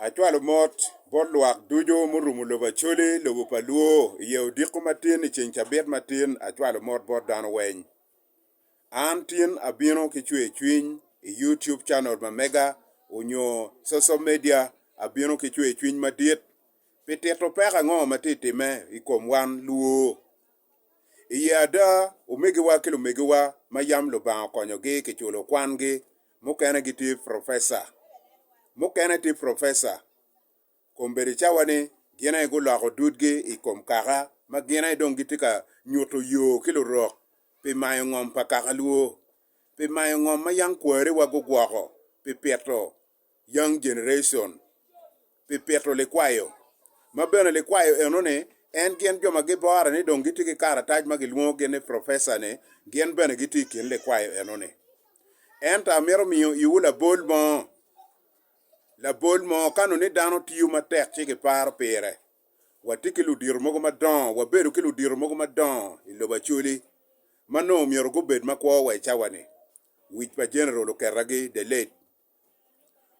Acwalo mot bot lwak ducu murumo lobo Acholi, lobo pa Luo, i ye odiko matin i ceng cabit matin, acwalo mot bot dano weny. An tin abino ki cwer cwiny i YouTube channel ma mega onyo social media abino ki cwer cwiny madit pi tito peko ango ma tye time i kom wan Luo I ye ada, omegiwa ki lumegiwa ma yam Lubanga okonyogi kiculo kwangi, mukene gitye profesa, mukene tye profesa, kombeddi cawa ni gin aye guloko dudgi i kom kaka ma gin aye dong gitye ka nyuto yo ki lurok pi mayo ngom pa kakalwo, pi mayo ngom ma yam kwariwa gugwoko pi pito. Young Generation pi pito likwayo, ma bene likwayo enoni en gin jo ma gibore ni dong gitye ki karatac ma gilwongogi ni professor-ni gin bene gitye i kin likwayo enoni. Ento amito miyo iwu labol mo, labol mo ka nongo ni dano tiyo matek ci giparo pire. Watye ki ludito mogo madongo, wabedo ki ludito mogo madongo i lobo Acholi ma nongo myero gubed makwo wa i cawa-ni. Wic pa General okeragi the late.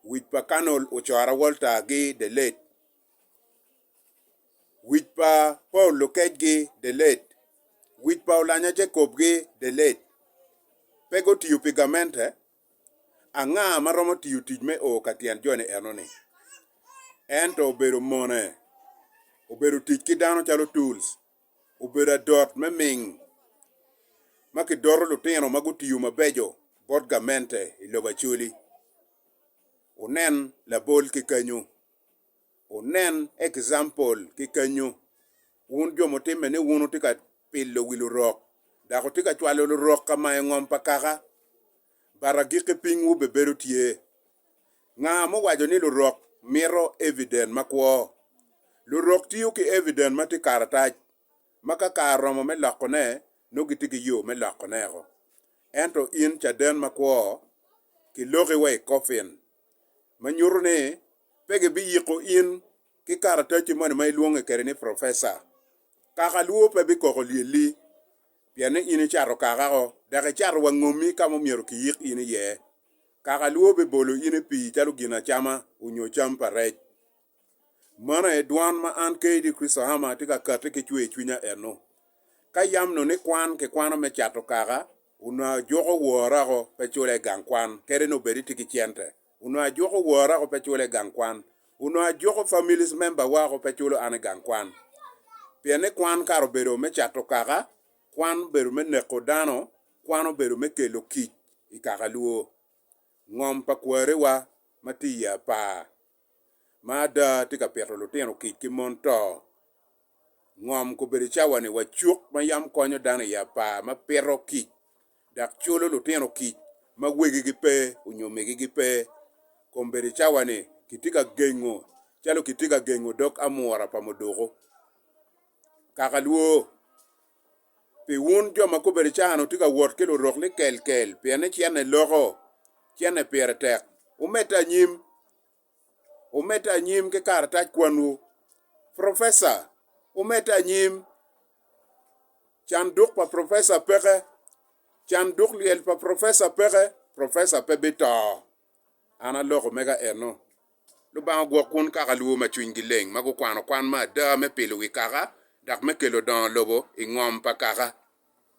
Wic pa Carnol ocoro awolta gi delet. Wic pa Paul Lukec gi delet. Wic pa Olanya Jacob gi delet. Pe gutiyo pi gamente? Anga ma romo tiyo tic me oo ka tyen joni enoni? Ento obedo mone. Obedo tic ki dano calo tools. obedo adot me ming ma kidoto lutino ma gutiyo mabeco bot gamente i lobo Acholi. Wunen labol ki kenyu. Wunen example ki kenyu. Wun jo mutimme ni wun wutye ka pilo wi lurok dok wutye ka cwalo lurok ka mayo ngom pa kaka, but agikki pingwu bebedo tye. Nga muwaco ni lurok mito evident makwo? Lurok tiyo ki evident ma tye karatac ma ka kare oromo me lokone nongo gitye ki yo me lokoneko. Ento in caden makwo, kiloki wa i coffin, ma nyuto ni pe gibiyiko in ki karatacci moni ma ilwonge kede ni professor. Kaka lwor pe bikoko lyelli pienni in icato kakako dok icato wa ngomi ka ma omyero kiyik in iye. kaka lwo bibolo in i pii calo ginacama onyo cam pa rec. Mano aye dwan ma an Katie Chrisohama atye ka kati ki cwer cwinya eno. Ka yam no ni kwan kikwano me cato kaka, onongo ajuko wora ko pe cula i gang kwan, kadi ni obed itye ki cente, onongo ajuko wora ko pe cula i gang kwan, onongo ajuko families member wa ko pe culo an i gang kwan. Pien ni kwan kare obedo me cato kaka, kwan obedo me neko dano, Kwan obedo me kelo kic i kakalwo. Ngom pa kwarewa ma tye i apar ma ada tye ka pito lutino kic ki mon to. Ngom kobedo cawani wa cuk ma yam konyo dano i apar ma pito kic dok culo lutino kic ma wegigi pe onyo migigi pe. Kombedo cawani kitye ka gengo calo kitye ka gengo dog amura pa muduku. Kakalwo Pi wun jo ma gubedo caani wutye ka wot ki lurok ni kelkel pien ni cente loko, cente pire tek. Wumedde anyim, wumedde anyim ki karatac kwanwu. Professor, wumedde anyim. Canduk pa professor peke, canduk lyel pa professor peke, professor pe bito. An aloko mega eno. Lubanga ogwok kwon kaka lubo ma cwinygi leng ma gukwano kwan me ada me pilo wi kaka dok me kelo dongo lobo i ngom pa kaka.